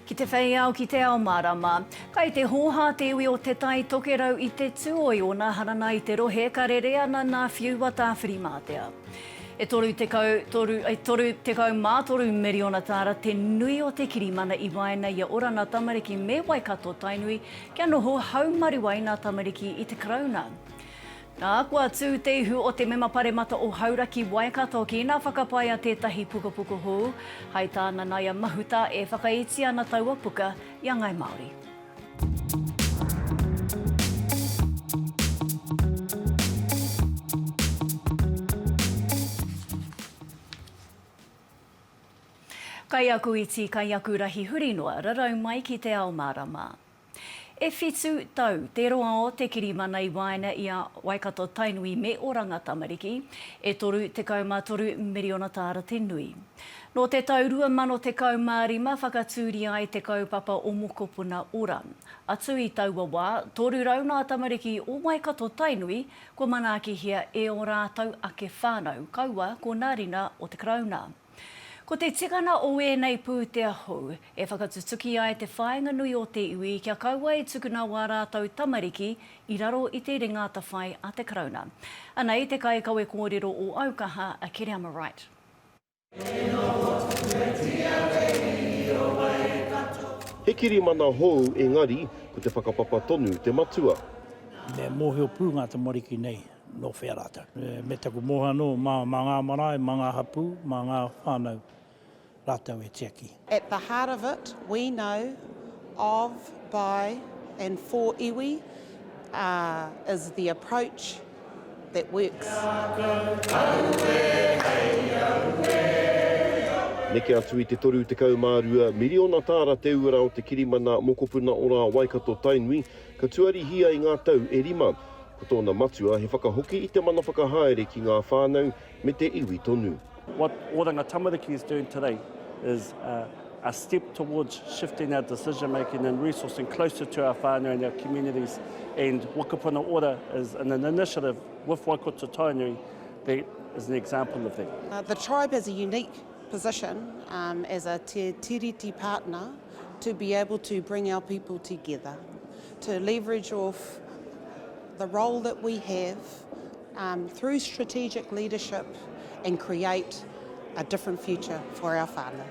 Ki te whei ao, ki te ao marama. Kai te hōhā te iwi o Te Tai Tokerau i te tū o Iona Harana i te rohe ka rere ana nā Whiua Tāwhirimātea. E 33, e 33 miriona tāra te nui o te kirimana i waena i a Orana tamariki me Waikato Tainui kia noho haumaru ai nā tamariki i te Karauna. Ā, kua tū te ihu o te Mema Paremata o Hauraki Waikato ki ina whakapae a tētahi pukapuku hou, hai tā Nanaia Mahuta e whakaiti ana taua puka i a Ngai Māori. Kai aku iti, kai aku rahi huri noa, rarau mai ki te ao mārama. E whitu tau te roa o te kirimana i waena i a Waikato Tainui me Oranga Tamariki, e 33 miriona tāra te nui. Nō te tau 2015 whakatūria ai te kaupapa o Mokopuna Ora. Atu i taua wā, 300 ngā tamariki o Waikato Tainui kua manaakihia e ō rātou ake whānau, kaua ko Nā Rina o te Karauna. Ko te tikanga o ēnei pūtea hou, e whakatutuki ai te whāinga nui o te iwi kia kaua e tukuna wā rātou tamariki i raro i te ringa atawhai a te Karauna. Anei te kaikawe kōrero o Aukaha, a Kereama Wright. He kirimana hou engari ko te whakapapa tonu te matua. Me mōhio pū ngā tamariki nei Nō whea rātou? Me taku moha anō, mā, mā ngā marae, mā ngā hapū, mā ngā whānau rātou e tiaki. At the heart of it, we know, of, by and for iwi is the approach that works. Neke atu i te 32 miriona tāra te uara o te kirimana mokopuna ora Waikato-Tainui Ka tuarihia i ngā tau e rima. Ko tōna matua he whakahoki i te mana whakahaere ki ngā whānau me te iwi tonu. What Oranga Tamariki is doing today is a step towards shifting our decision making and resourcing closer to our whānau and our communities and Wakapuna Ora is an initiative with Waikato Tainui that is an example of that. The tribe has a unique position as a Te Tiriti partner. to be able to bring our people together, to leverage off the role that we have um, through strategic leadership and create a different future for our whānau.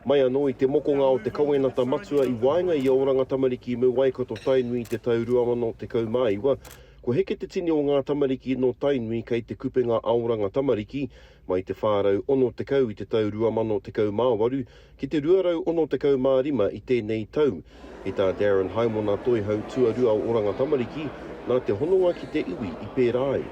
Mai anō i te mokonga o te kawenata matua i waenga i a Oranga Tamariki me Waikato Tainui i te tau 2019, kua heke te tini o ngā tamariki nō Tainui kei te kupenga a Oranga Tamariki, Mai te 460 i te tau 2018 ki te 265 i tēnei tau, i tā Darren Haimona Toihau Tuarua o Oranga Tamariki, nā te hononga ki te iwi i pērā ai.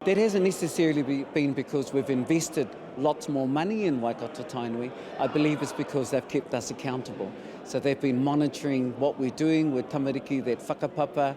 That hasn't necessarily been because we've invested lots more money in Waikato Tainui, I believe it's because they've kept us accountable. So they've been monitoring what we're doing with tamariki that whakapapa,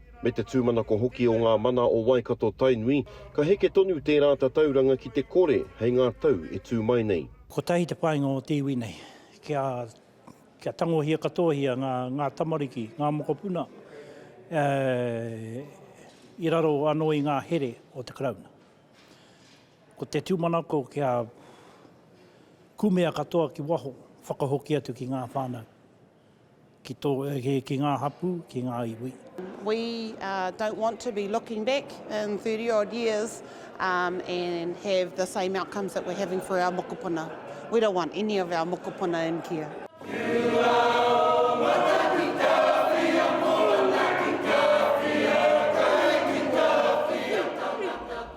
me te tūmanako hoki o ngā mana o Waikato-Tainui, ka heke tonu tērā tatauranga ki te kore hei ngā tau e tū mai nei. Kotahi te whāinga o te iwi nei, kia, kia tangohia katoahia ngā, ngā tamariki, ngā mokopuna, e, i raro anō i ngā here o te Karauna. Ko te tūmanako kia kumea katoa ki waho, whakahoki atu ki ngā whānau. Ki tō, ki ngā hapū, ki ngā iwi. We don't want to be looking back in 30 odd years and have the same outcomes that we're having for our mokopuna. We don't want any of our mokopuna in kia.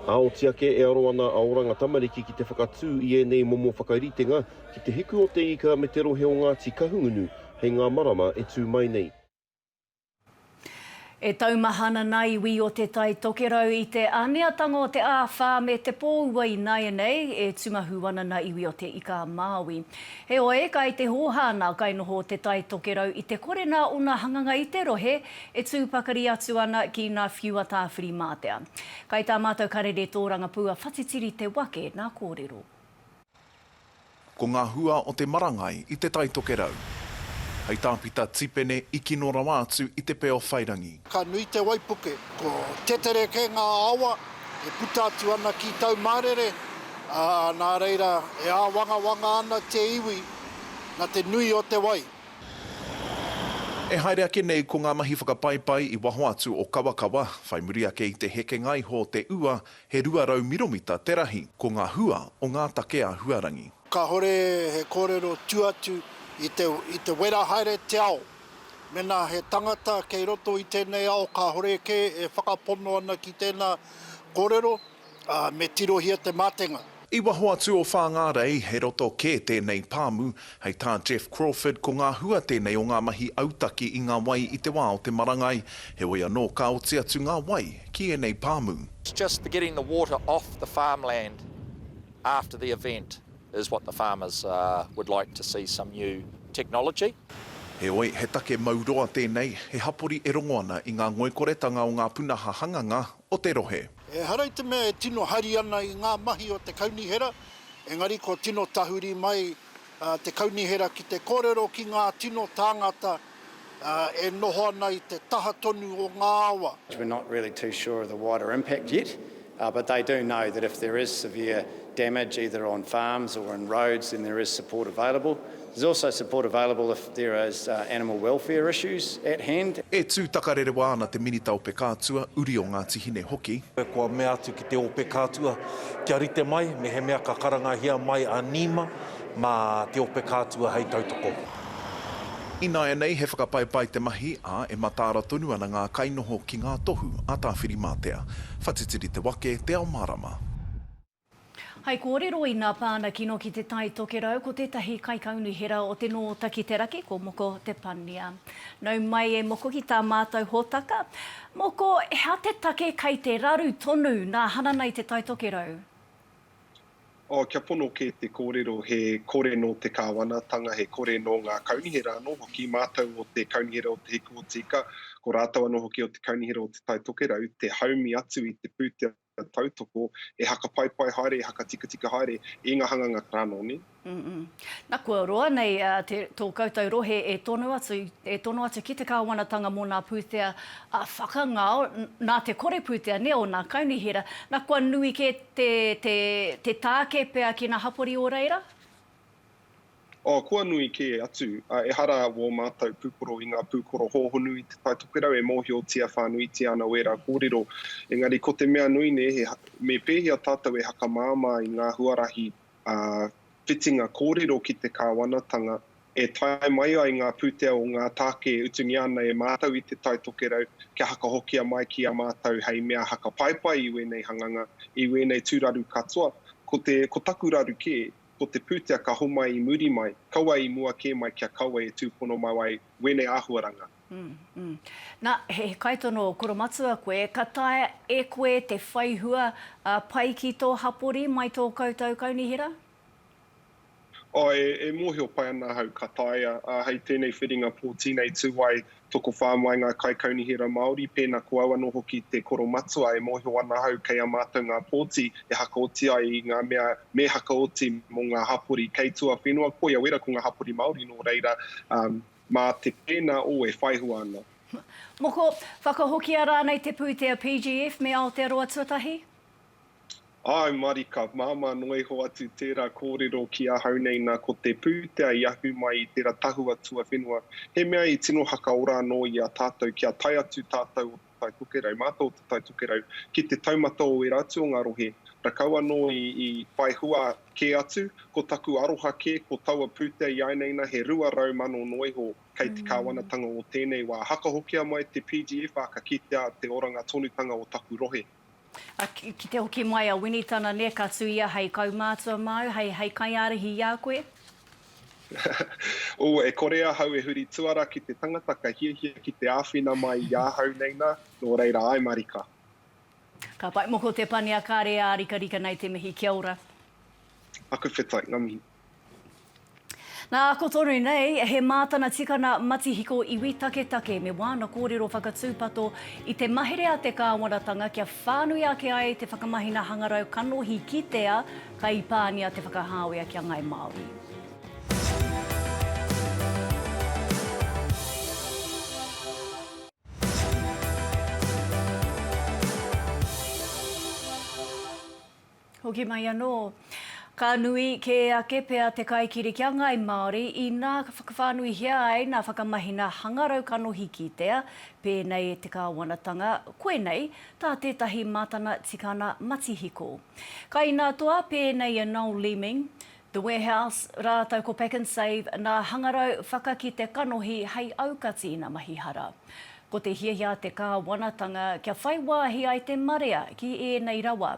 Aotia kē e aro ana a Oranga Tamariki ki te whakatū i ēnei momo whakaritenga, ki te hiku o te ika me te rohe o Ngāti Kahungunu hei ngā marama e tū mai nei. E taumahana ngā iwi o Te Tai Tokerau i te aneatanga o te āwhā me te pōua ināianei e tumahu ana ngā iwi o Te Ika-a-Māui. Heoi, kai te hōhā ngā kainoho o Te Tai Tokerau i te kore ngā ōna hanganga i te rohe e tū pakari atu ana ki ngā whiua tāwhiri mātea. Kai tā mātou karere tōrangapū a Whatitiri Te Wake nā kōrero. Ko ngā hua o te marangai i Te Tai Tokerau. Hei tā Pita Tipene i kino rawa atu i te peo whairangi. Ka nui te waipuke, ko tetere kē ngā awa e puta atu ana ki tau mārere, ā, nā reira e āwangawanga ana te iwi nā te nui o te wai. E haere ake nei ko ngā mahi whakapaipai i waho atu o Kawakawa, whai muri ake i te hekenga iho o te ua He rua rau miromita te rahi. Ko ngā hua o ngā take āhuarangi. Kāhore he kōrero tū atu i te, i te wera haere te ao. Mēnā he tangata kei roto i tēnei ao kāhore kē e whakapono ana ki tēnā kōrero, ā, me tirohia te mātenga. I waho atu o Whāngārei, he roto kē tēnei pāmu. Hei tā Geoff Crawford, ko ngā hua tēnei o ngā mahi autaki i ngā wai i te wā o te marangai, heoi anō ka oti atu ngā wai ki ēnei pāmu. It's just the getting the water off the farmland after the event is what the farmers would like to see some new technology. Heoi, he take mauroa tēnei, he hapori e rongo ana i ngā ngoikoretanga o ngā punaha hanganga o te rohe. Ehara i te mea e tino hari ana i ngā mahi o te Kaunihera, engari kua tino tahuri mai te Kaunihera ki te kōrero ki ngā tino tāngata e noho ana i te taha tonu o ngā awa. We're not really too sure of the wider impact yet, but they do know that if there is severe damage either on farms or in roads then there is support available. There's also support available if there is animal welfare issues at hand. E tū takarerewa ana te Minita o Pekātua, uri o Ngāti Hine hoki. Kua mea atu ki te Ōpekātua kia rite mai mehemea ka karangahia mai a NEMA mā te Ōpekātua hei tautoko. Ināianei he whakapaepae te mahi, ā, e mataara tonu ana ngā kainoho ki ngā tohu a Tāwhirimātea. Whatitiri te wake, te ao mārama. Hai kōrero i nā pāna kino ki te Tai Tokerau ko tētahi kaikaunihera o te nō Takiteraki ko Moko Te Pania. Nau mai e Moko ki tā mātou hōtaka. Moko, he aha te take kei te raru tonu nā hana nei te Tai Tokerau? Oh, kia pono kē te kōrero he kore nō te Kāwanatanga, he kore nō ngā kaunihera anō hoki, mātou o te Kaunihera o Te Hiku o Tika, ko rātou anō hoki o te Kaunihera o Te Tai Tokerau, te haumi atu i te pūtea tautoko, e hakapaipai haere, e hakatikatika haere i ngā hanganga karāna o nei. Mm-mm. Na, kua roa nei uh, te, tō koutou rohe e tono atu, e tono atu ki te kāwanatanga mō nā pūtea uh, whakangao, nā te kore pūtea ne o nā kaunihera. Na, kua nui kē te, te, te tāke pea ki nā hapori o reira? Oh, kua nui kē atu, ā, ehara wō mātou pūkoro i ngā pūkoro hōhonu i Te Pae Tokerau e mōhiotia whānuitia ana wērā kōrero, engari ko te mea nui nei he, me pēhea tātou e hakamāmā i ngā huarahi, ā, whitinga kōrero ki te Kāwanatanga, e tae mai ai ngā pūtea o ngā tāke e utungia ana e mātou i Te Tai Tokerau kia hakahokia mai ki a mātou hei mea hakapaepae i wēnei hanganga, i wēnei tūraru katoa, ko te, ko taku raru kē, ko te pūtea ka homai i muri mai, kaua i mua kē mai kia kaua e tūpono mau ai wēnei āhuaranga. Na, he kaitono koromatua koe, ka taea e koe te whai hua pai ki tō hapori mai tō koutou kaunihera? Oh, e mōhio pai ana ahau ka taea, hei tēnei whiringa pōti nei tū ai Tokowhā mai ngā kaikaunihera Māori, pēnā ko au anō hoki te koromatua e mōhio ana ahau kei a mātou ngā pōti e hakaoti ai i ngā mea me hakaoti mō ngā hapori kei tuawhenua, koia wera ko ngā hapori Māori nō reira mā te pēnā o e whaihua ana. Moko, whakahokia rānei te pūtea PGF me Aotearoa tuatahi? Āe marika, māmā noa iho atu tērā kōrero ki ahau nei nā ko te pūtea i ahu mai i tērā tahua tuawhenua, he mea i tino hakaora anō i a tātou kia tae atu tātou o Te Tai Tokerau, mā tō Te Tai Tokerau, ki te taumata o ērā atu o ngā rohe, rakau anō i whai hua kē atu, ko taku aroha kē, ko taua pūtea iāinaina he rua rau mano noa iho kei te kāwanatanga o tēnei wā. Haka hokia mai te pdf ā ka kitea te oranga tonutanga o taku rohe. Ki te hoki mai a Winitana ne, ka tu ia hei kaumātua māu, hei, hei kaiārahi i a koe? Ū, e kore ahau e huri tuara ki te tangata ka hiahia ki te āwhina mai i ahau nei nā, nō reira, āe marika. Ka pae moko te pane a Kare ā rikarika nei te mihi, kia ora. Aku whetai, nga mihi. Nā, ko tonu nei, he mātana tikana matihiko iwi taketake me wāna kōrero whakatūpato i te mahere a te kāwanatanga kia whānui ake ai te whakamahina hangarau kanohi kitea kai i pāngia te whakahāwea ki a ngāi Māori. Hoki mai anō, ka nui kē ake pea te kaikiri ki a ngāi Māori inā whakawhānuihia ai nā whakamahina hangarau kanohi kitea, pēnei te kāwanatanga, koinei tā tētahi mātanga tikana matihiko. Kainatoa pēnei a Noel Leeming, The Warehouse, rātou ko Pak'nSave nā hangarau whakakite kanohi hei aukati i nā mahi hara. Ko te hiahia a te Kāwanatanga kia whai wāhi ai te marea ki ēnei rawa.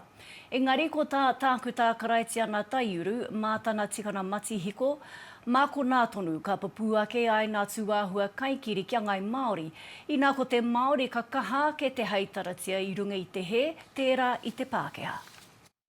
Engari ko tā Tākuta Karaitiana Taiuru, mā tana tikanga matihiko, mā konā tonu ka pupū ake ai nā tūāhua kaikiri kia ngai Māori, inā ko te Māori ka kaha ake te heitaratia i runga i te hē, tērā i te Pākehā.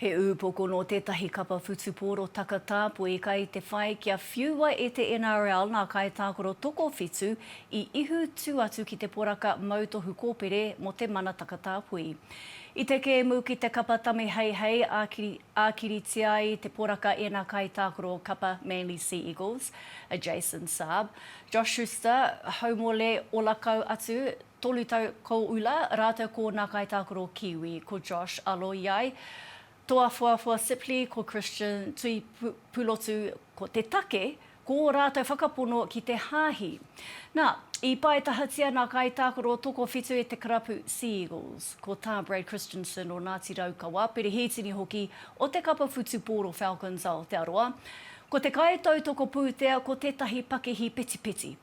He ūpoko nō tētahi kapa whutupōro taka tāpoi kai te whai kia whiua e te NRL ngā kaitākaro tokowhitu i ihu tū atu ki te poraka mautohu kōpere mō te mana takatāpoi. I te kēmu ki te kapa Tamiheihei, ākiritia ai te poraka ēnā kaitākaro kapa Manly Sea Eagles, Jason Saab, Josh Schuster, Haumole, Olakau atu, Tolu tau ko Ula rātou ko nā kaitākaro Kiwi, ko Josh Aloiai, Toa Foafoa Sipley, ko Christian Tui Pulotu, ko te take, ko ō rātou whakapono ki te hāhi. Nā, i paetahatia nā kaitākaro tokowhitu e te karapu Sea Eagles. Ko tā Brad Christensen o Ngāti Raukawa, perehītini hoki o te kapa whutupōro Falcons Aotearoa, Ko te kaitautoko pūtea ko tētahi pakihi petipeti.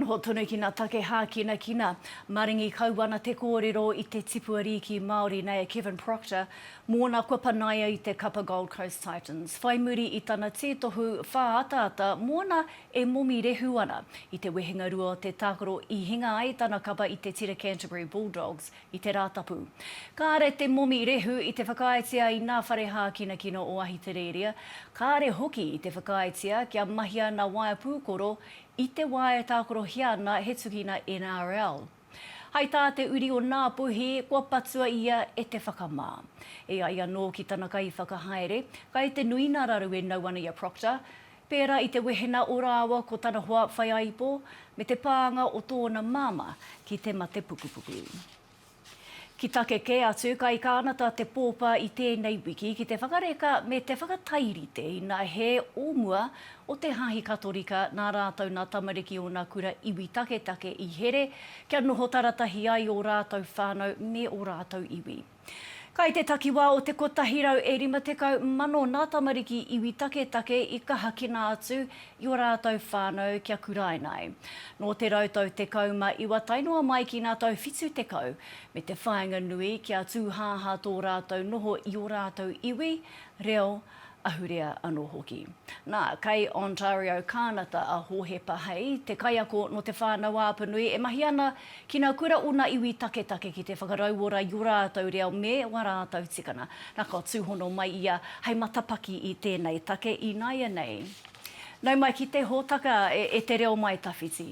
Noho tonu ki na take hākinakina. Maringi kau ana te kōrero i te tipua rīki Māori nei a Kevin Proctor mōna kua panaia i te kapa Gold Coast Titans whai muri i tana tītohu whāataata mōna e momi rehu ana i te wehenga rua o te tākaro i hinga ai tana kapa i te tira Canterbury Bulldogs i te Rātapu. Kāre te momi rehu i te whakaaetia inā whare hākinakina o Ahitereiria, kāre hoki i te whakaaetia kia mahia nā waea pūkoro i te wā e tākorohia ana he tukina NRL. Hai tā te uri o Ngāpuhi, kua patua ia e te whakamā. E ai anō ki tana kaiwhakahaere, kai te nui nā raru e nau ana i a Proctor, pērā i te wehena o rāua ko tana hoa whaiāipo me te pānga o tōna māmā ki te mate pukupuku. Ki take kē atu, ka ika ana tā Te Pōpā i tēnei wiki ki te whakareka me te whakatairite ina hē o mua o te Hāhi Katorika nā rātou nā tamariki ōna kura iwi taketake i here kia noho taratahi ai ō rātou whānau me ō rātou iwi. Kai te takiwā o te 150,000 nā tamariki iwi taketake i kahakina atu i o rātou whānau kia kuraina ai. Nō te rau tau tekau ma iwa tae noa mai ki nā tau whitu tekau, me te whāinga nui kia tūhāhā tō rātou noho i o rātou iwi, reo, ahurea anō hoki. Nā, kei Ontario Kānata a Hōhepa Hei, te kaiako nō Te Whānau-a-Apanui e mahi ana ki ngā kura o ngā iwi taketake ki te whakarauora i ō rātou reo me wā rātou tikana. Nā, kua tūhono mai ia hei matapaki i tēnei take ināianei. Nau mai ki te hōtaka e te reo maitawhiti.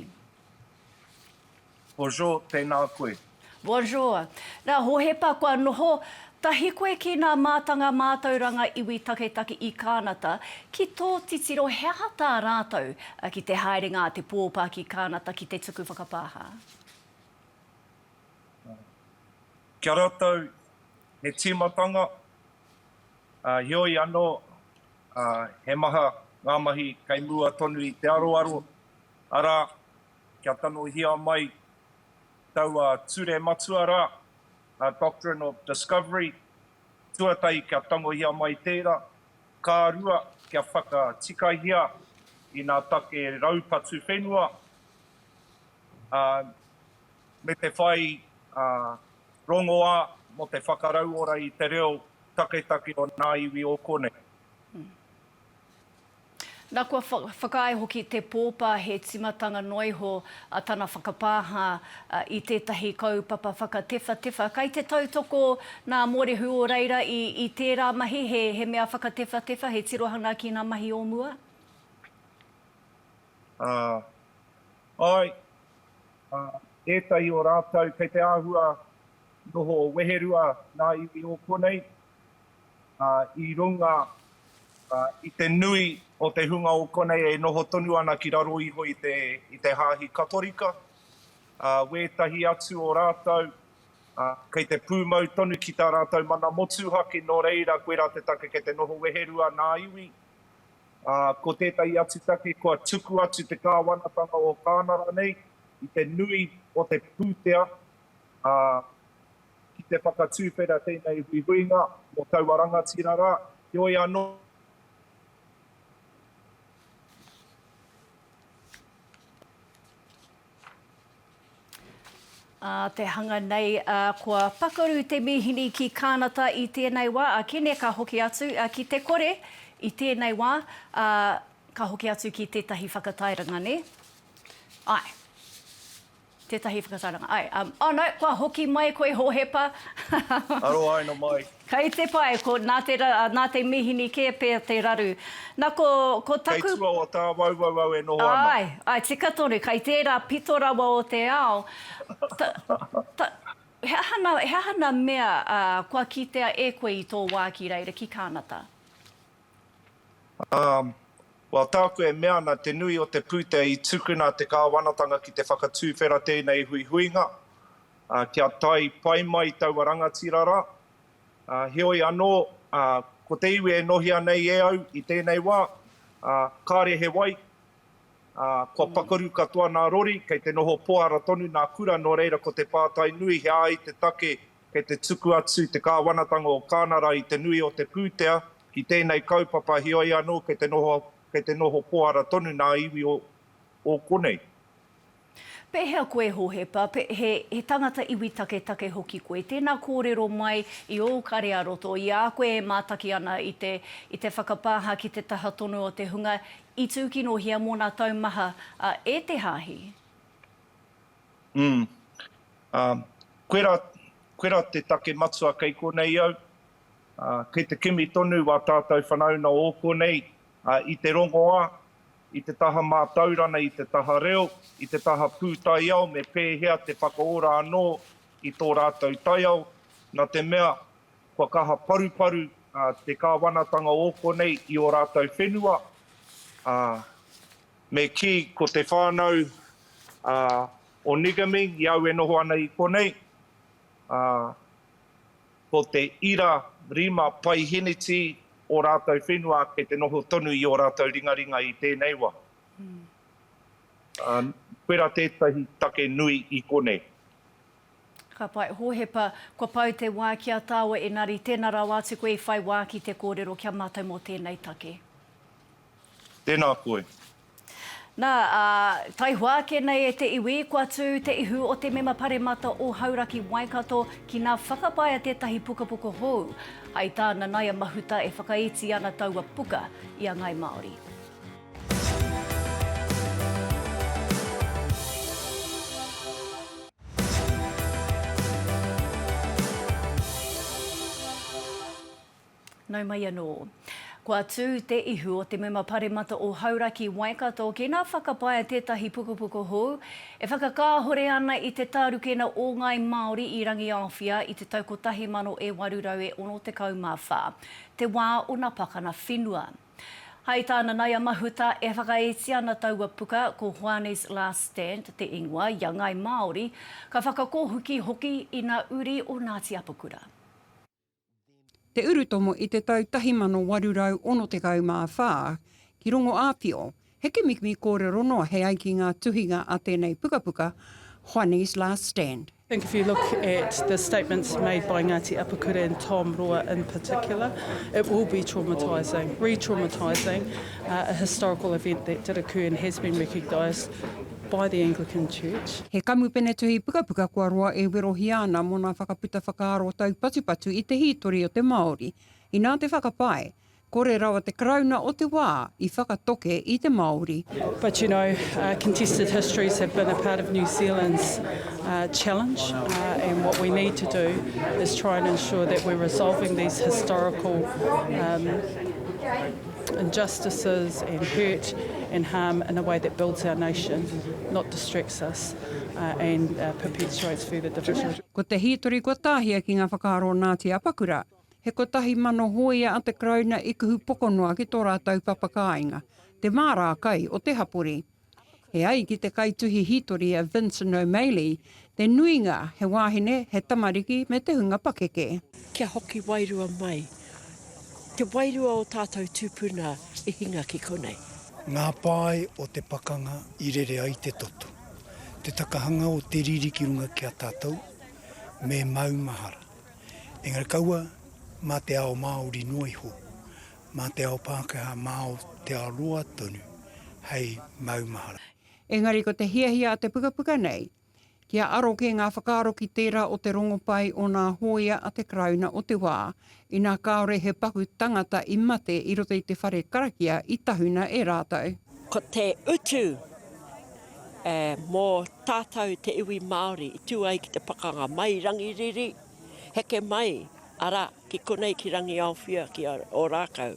Bonjour, tēnā koe. Bonjour. Nā Hohepa kua noho, tahi koe ki nā mātanga mātauranga iwi taketake i Kānata, ki tō titiro he aha tā rātou ki te haerenga a Te Pōpā ki Kānata ki te tuku whakapāha? Ki a rātou he tīmatanga, heoi anō he maha ngā mahi kei mua tonu i te aroaro, arā, kia tanohia mai taua Ture Matua rā, a Doctrine of Discovery, tuatahi kia tangohia mai tērā, ka rua kia whakatikahia i nā take raupatu whenua, ā, me te whai rongoā mō te whakarauora i te reo taketake o nā iwi o konei. Na kua whakaae hoki Te Poopa he timatanga noa iho a tana whakapaaha i tetahi kaupapa whakatewhatewha kai te tautoko na Morehu o reira i tera mahi he mea whakatewhatewha he tirohanga ki na mahi o mua? Aa. Ae. Aa. Etahi o ratou kei te ahua noho weherua na iwi o konei. i runga i te nui o te hunga o konei e noho tonu ana ki raro iho i te Hāhi Katorika, wētahi atu o rātou kei te pūmau tonu ki tā rātou mana motuhake, nō reira koirā te take kei te noho weherua nā iwi. Ko tētahi atu take kua tuku atu te kāwanatanga o Kānara nei i te nui o te pūtea, ki te whakatuwhera tēnei huihuinga mō taua rangatira rā, heoi anō, Ā te hanga nei, ā, kua pakaru te mīhini ki Kānata i tēnei wā, ā, kīne ka hoki atu, ā, ki te kore i tēnei wā, ā, ka hoki atu ki tētahi whakatairanga, nē? Āe. Tētahi whakatairanga, āe. Oh no, kua hoki mai koe Hōhepa. Arohae no mai. Kei te pae, ko, nā te, nā te mīhini kē pea te raru. Na ko, ko taku. Kei tua o Tāwauwau au e noho ana. Āe, āe, tika tonu, kei tērā pito rawa o te ao. Ta, ta, he aha na, he aha na mea, uh, kua kitea e koe i tō wā ki reira, ki Kānata? Um, well, tāku e mea ana, te nui o te pūtea i tukuna te Kāwanatanga ki te whakatūwhera tēnei huihuinga, uh, kia tae pai mai taua rangatira rā. Uh, heoi anō, uh, ko te iwi e nōhia nei e au i tēnei wā, uh, kāre he wai, uh, kua pakaru katoa nā rori, kei te noho pohara tonu nā kura, nō reira ko te pātai nui he āi te take Kei te tuku atu te kāwanatanga o Kānara i te nui o te pūtea ki tēnei kaupapa heoi anō kei te noho kei te noho pōara tonu nā iwi o o konei. Pēhea koe Hohepa, he he tangata iwi taketake hoki koe, tēnā kōrero mai i ōu kare a roto, i a koe e mātaki ana i te i te whakapāha ki te taha tonu o te hunga i tūkinohia mō nā taumaha e te Hāhi? Umm. Umm. Koira, koira te take matua kei konei au. Kei te kimi tonu wā tātou whanauna o konei, i te rongoā, i te taha mātaurana, i te taha reo, i te taha pūtaiao me pēhea te whakaora anō i tō rātou taiao, nā te mea, kua kaha paruparu te kāwanatanga o konei i ō rātou whenua, ā, Me kī, ko te whānau o Nigami i au e noho ana i konei, ko te ira rima paihiniti o rātou whenua ake te noho tonu i ō rātou ringaringa i tēnei wa. Koe ra tētahi take nui i konei. Ka pai. Hohepa, kua pau te wā ki a tāua, enari, tēna rawa atu koe i whai wā ki te kōrero ki a mātou mō tēnei take. Tēnā koe. Nā, ā, taihoa ake nei e te iwi, kua tū te ihu o te Mema Paremata o Hauraki Waikato ki nā whakapaea tētahi pukapuka hou. Hai tā Nanaia Mahuta e whakaiti ana taua puka i a Ngai Māori. Nau mai anō. Kua tū te ihu o te Mema Paremata o Hauraki Waikato ki nā whakapae tētahi pukapuka hou e whakakāhore ana i te tārukena o Ngāi Māori i Rangiaowhia i te tau 1864, te wā o nā pakana whenua. Hai tāna nāia Mahuta e whakaiti ana taua puka ko Hoane's Last Stand te ingoa i a Ngāi Māori, ka whakakōhuki hoki i nā uri o Ngāti Apakura. Te Urutomo i te tau 1864, ki Rongoāpio, he kimikimi kōrero noa he ai ki ngā tuhinga a tēnei pukapuka, Juani's Last Stand. I think if you look at the statements made by Ngati Apakura and Tom Roa in particular, it will be traumatising, re-traumatising a historical event that did occur and has been recognised. by the Anglican Church. He kamupene tuhi pukapuka kua roa e werohia ana mō nā whakaputa whakaaro taupatupatu i te hītori o te Māori. Inā te whakapae, kore rawa te Karauna o te wā i whakatoke i te Māori. But you know, contested histories have been a part of New Zealand's challenge and what we need to do is try and ensure that we're resolving these historical injustices and hurt and harm in a way that builds our nation, not distracts us and perpetuates further division. Ko te hītori kua tāhia ki ngā whakaaro o Ngāti Apakura, he kotahi mano hōia a te Karauna i kuhu pokonoa ki tō rātou papakāinga, te mārā kai o te hapori. E ai ki te kaituhi hītori a Vince Nomaili, te nuinga he wāhine, he tamariki me te hunga pakeke. Kia hoki wairua mai te wairua o tātou tūpuna i hinga ki konei. Ngā pae o te pakanga i rere ai te toto, te takahanga o te riri ki runga ki a tātou, me maumahara. Engari kaua mā te ao Māori noa iho, Mā te ao Pākehā, mā Aotearoa tonu hei maumahara. Engari ko te hiahia a te pukapuka nei, kia aro kē ngā whakaaro ki tērā o te rongopai o nā hōia a te Karauna o te wā, inā kāore he paku tangata i mate i roto i te whare karakia i tahuna e rātou. Ko te utu mō tātou te iwi Māori i tū ai ki te pakanga mai i Rangiriri, heke mai, arā, Ki konei ki Rangiaowhia ki a Ōrākau,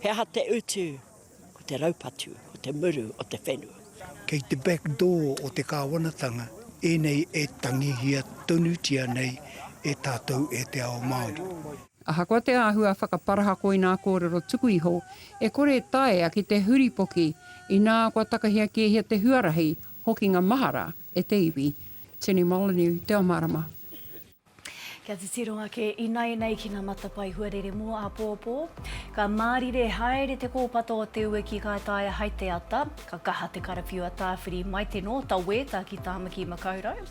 he aha te utu? Ko te raupatu, ko te muru o te whenua. Kei te back door o te kāwanatanga ēnei e tangihia tonutia nei e tātou e te ao Māori. Ahakoa te āhua whakaparahako inā kōrero tuku iho, e kore e taea ki te huripoki inā kua takahia kēhia te huarahi hokinga mahara e te iwi. Tini Molyneux, Te Omarama. Kia titiro ake ināianei ki ngā matapae huarere mō āpōpō. Ka mārire haere te kōpata o te ue ki Kāi Taia hai te ata, ka kaha te karawhiu a Tāwhiri mai te nō ta wēta ki Tāmaki Makaurau.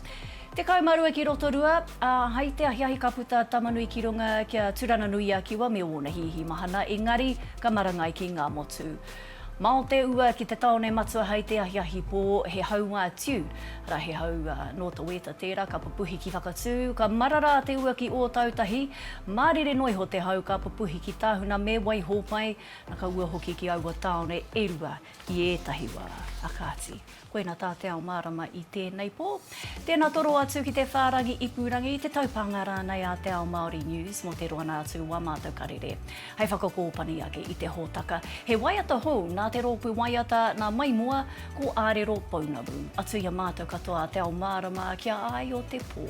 Tekau ma rua ki Rotorua, ā, hai te ahiahi ka puta a Tamanui ki runga ki a Turanganui-a-Kiwa me ōna hihi mahana, engari ka marangai ki Ngāmotu. Mao te ua ki te taone matua hai te ahiahi pō, he hauā tiu, ara he hauā nō te wēta tērā ka pupuhi ki Whakatū, ka marara te ua ki Ōtautahi, mārire noa iho te hau ka pupuhi ki Tāhuna me Waihōpai, na ka ua hoki ki aua taone e rua i ētahi wā. A kāti, Koina tā Te Ao Mārama i tēnei pō. Tēnā toro atu ki te whārangi ipurangi, te taupānga rānei a Te Ao Māori News mō te roanga atu o ā mātou karere. Hei whakakōpani ake i te hōtaka, he waiata hou nā te rōpū waiata nā Maimoa ko Ārero Pounamu. Atu i a mātou katoa a Te Ao Mārama ki a ai o te pō.